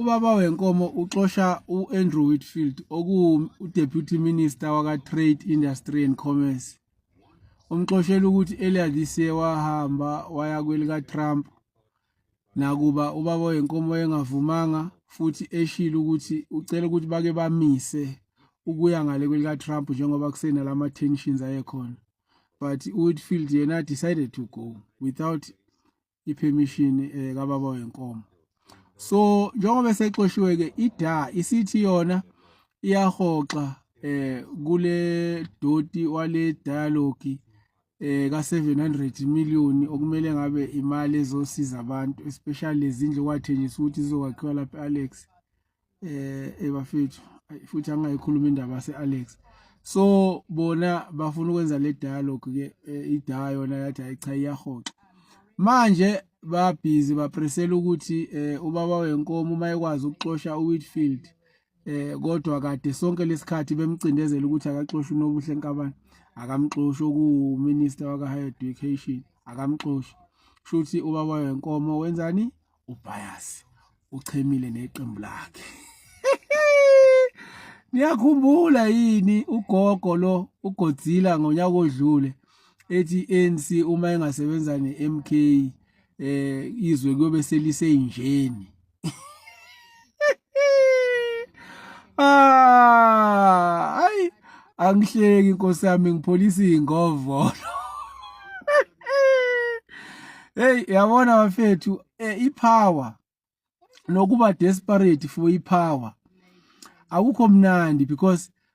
Ubaba wenkomo uxosha u-Andrew Whitfield okuwu-Deputy Minister waka-Trade, Industry and Commerce. Umxoshela ukuthi earlier this year wahamba waya kwelika-Trump nakuba ubaba wenkomo engavumanga futhi eshilo ukuthi ucela ukuthi bake bamise ukuya ngale kwelika-Trump njengoba kusenalama-tensions ayekhona. But u-Whitfield yena decided to go without ipermission eh kababa wenkomo so njengoba sexoshiwe ke ida isithi yona iyahoxa eh kule doti wale dialogue eh ka 700 million okumele ngabe imali ezosiza abantu especially lezindlu kwathenjiswa ukuthi zizokwakhiwa lapha Alex eh ebafethu futhi angayikhuluma indaba se Alex so bona bafuna ukwenza le dialogue ke eh, idaya yona yathi ayicha iyahoxa manje ba busy ba presela ukuthi eh, ubaba wenkomo uma ekwazi ukuxosha uWhitfield eh kodwa kade sonke lesikhathi bemcindezela ukuthi akaxoshwe nobuhle nkabani akamxoshi oku minister waka higher education akamxoshi shuthi ubaba wenkomo wenzani uBias uchemile neqembu lakhe Niyakhumbula yini ugogo lo uGodzilla ngonyaka odlule ethi ANC uma engasebenza neMK eh izwe kuyobe selisenjeni Ah, ay angihleki inkosi yami ngipholisa ingovolo. Hey yabona bafethu eh, ipower nokuba desperate for ipower akukho mnandi because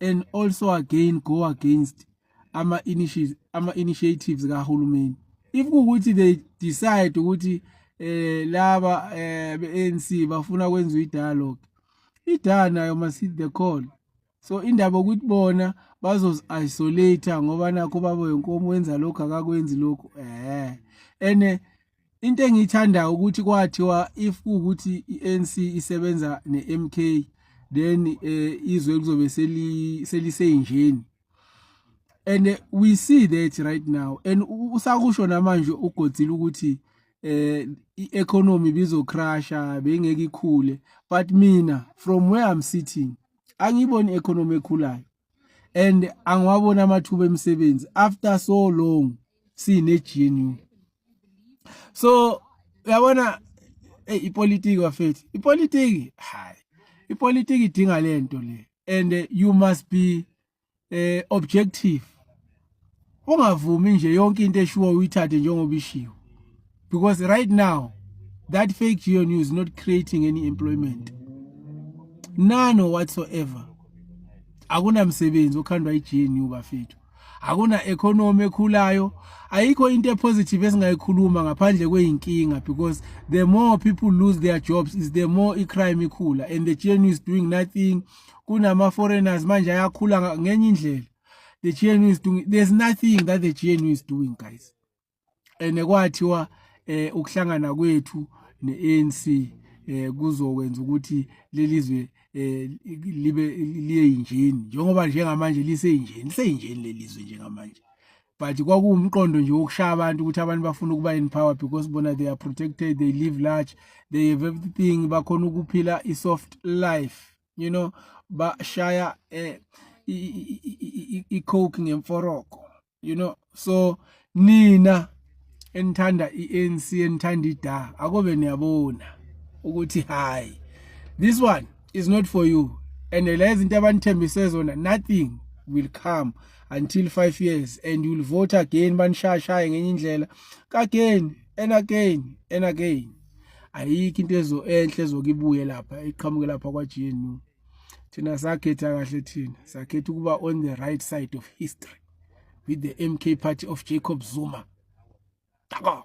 and also again go against ama initiatives ama initiatives kahulumeni if ukuthi they decide ukuthi eh laba eh ANC bafuna kwenza idialogue idala nayo must hit the call so indaba ukuthi bona bazozi isolate ngoba nakho babo yenkomo wenza lokho akakwenzi lokho eh ene into engiyithandayo ukuthi kwathiwa if kuwukuthi i-ANC isebenza ne-MK then eh izwe lizobe seli seliseyinjeni and eh, we see that right now and usakusho namanje ugodzile ukuthi eh i-economy bizo crusher bengeke ikhule but mina from where i'm sitting angiyiboni i-economy ekhulayo and angiwabona amathuba emisebenzi after so long sine GNU so uyabona hey eh, ipolitiki wafethu ipolitiki hayi ipolitiki idinga lento le and eh, you must be eh objective ungavumi nje yonke into eshiwo uyithathe njengoba ishiwo because right now that fake geo news not creating any employment none whatsoever akunamsebenzi okhandwa i-gnu bafethu akuna-economy ekhulayo ayikho into epositive esingayikhuluma ngaphandle kweyinkinga because the more people lose their jobs is the more i-crime ikhula and the gnu is doing nothing kunama-foreigners manje ayakhula ngenye indlela the GNU is doing there's nothing that the GNU is doing guys and kwathiwa eh ukuhlangana kwethu neANC eh kuzokwenza ukuthi lelizwe eh libe liye injini njengoba njengamanje lise injini lise injini lelizwe njengamanje but kwakuwumqondo nje wokushaya abantu ukuthi abantu bafuna ukuba in power because bona they are protected they live large they have everything bakhona ukuphila i soft life you know bashaya eh i coke ngemforoko you know so nina enithanda iANC enithanda iDa akobe niyabona ukuthi hayi this one is not for you and lezi into abanithembise zona nothing will come until 5 years and you will vote again banishashaye ngenye indlela again and again and again ayikho into ezo enhle ezokibuye lapha iqhamuke lapha kwaGNU thina sakhetha kahle thina sakhetha ukuba on the right side of history with the MK party of Jacob Zuma Tako.